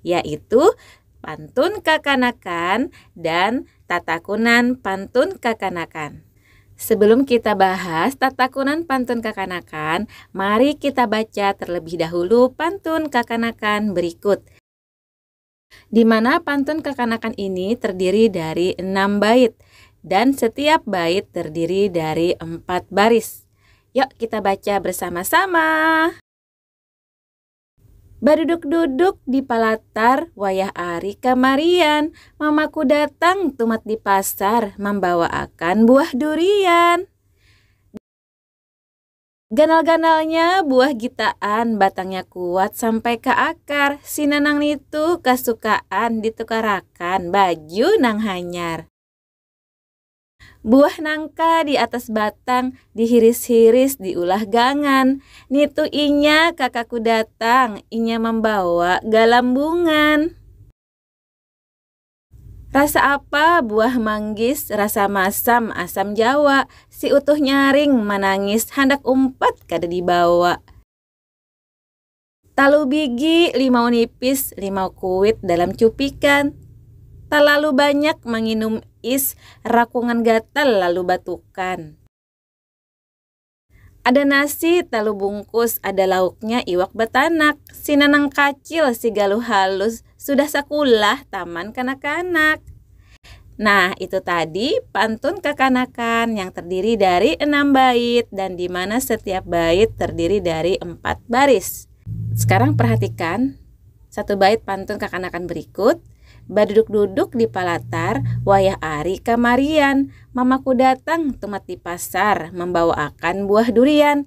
yaitu pantun kakanakan dan tatakunan pantun kakanakan. Sebelum kita bahas tatakunan pantun kakanakan, mari kita baca terlebih dahulu pantun kakanakan berikut. Di mana pantun kakanakan ini terdiri dari enam bait dan setiap bait terdiri dari empat baris. Yuk kita baca bersama-sama. Baduduk-duduk di palatar wayah ari kamarian, mamaku datang tumat di pasar mambawaakan buah durian. Ganal-ganalnya buah gitaan, batangnya kuat sampai ka akar, si Nanang nitu kasukaan ditukarakan baju nang hanyar. Buah nangka di atas batang dihiris-hiris diulah gangan. Nitu inya kakaku datang, inya mambawa galambungan. Rasa apa buah manggis, rasa masam asam jawa, si utuh nyaring manangis handak umpat kada dibawa. Talu bigi limau nipis, limau kuit dalam cupikan. Talalu banyak manginum is, rakungan gatal lalu batukan. Ada nasi talu bungkus, ada lauknya iwak batanak. Si Nanang Kacil, si Galuh Halus, Sudah sakulah taman kanak-kanak. Nah, itu tadi pantun kekanakan yang terdiri dari enam bait dan di mana setiap bait terdiri dari empat baris. Sekarang perhatikan satu bait pantun kekanakan berikut. Baduduk-duduk di palatar, wayah ari kamarian. Mamaku datang tumat di pasar, membawa akan buah durian.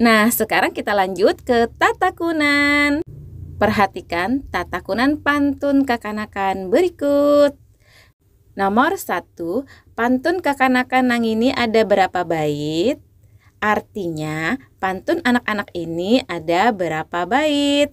Nah, sekarang kita lanjut ke tatakunan. Perhatikan tatakunan pantun kakanakan berikut. Nomor satu, pantun kakanakan nang ini ada berapa bait? Artinya, pantun anak-anak ini ada berapa bait?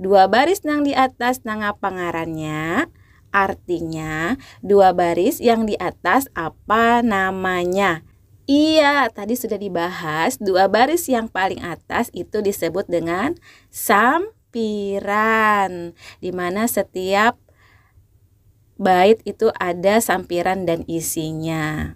Dua baris nang di atas nangapa ngarannya? Artinya, dua baris yang di atas apa namanya? Iya, tadi sudah dibahas, dua baris yang paling atas itu disebut dengan sampiran. Di mana setiap bait itu ada sampiran dan isinya.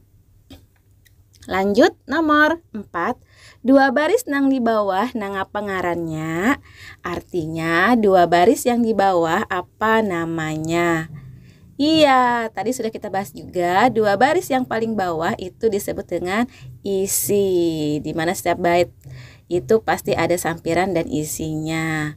Lanjut nomor 4. Dua baris nang di bawah nangapa ngarannya? Artinya dua baris yang di bawah apa namanya? Iya, tadi sudah kita bahas juga dua baris yang paling bawah itu disebut dengan isi. Di mana setiap bait itu pasti ada sampiran dan isinya.